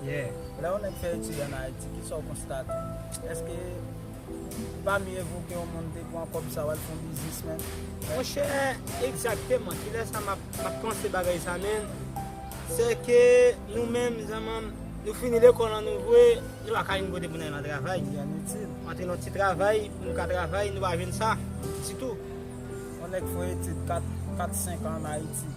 Yeah. Lè yon nèg fè etid an Ayiti, ki sa w konstate? Èske li pa mye evoke yon moun te pran kòb sa w al fè yon biznis menn? Monchè, egzakteman. Ki lè sa m ap panse bagay sa menn. Sè ke nou menm zanman, nou fini lekòl an nou vwe, nou pa ka jwenn kote pou n al nan travay. Byen itil. Antre nan ti travay pou nou ka travay, nou pa jwenn sa ditou. Yon nèg fè etid kat, senk an an Ayiti.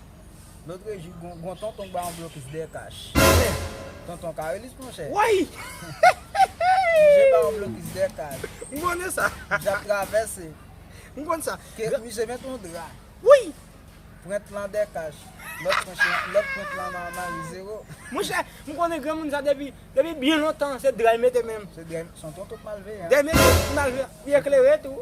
Lotre jou gon tonton k ba yon blokis dèyè kach. Nen! Tonton Karelis monchè. Woy! Misye ba yon blokis dèyè kach. M konnen sa. Misye ap travèse. M konn sa. Misye met yon dra. Woy! Prent lan dèyè kach. Lòt prent lan nan mari zewo. Monchè, m konnen granmoun sa depi byen lontan se dra l mete menm. Se dra l. Son tonton k mal veye a. Dèyè mesye ki mal veye a. Li eklere tou.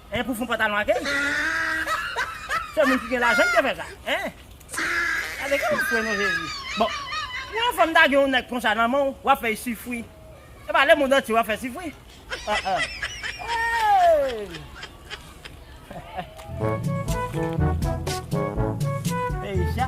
Hein pou fon pantalon a key. Se moun ki gen lajan ki te fè sa hein. Gade ki wap pran non jezi. Bon pou yon fanm ta gen yon nèg konsa nan menw wap fèy sufri. Epa le mond antye wap fè sufri ah ah hey. Eisha.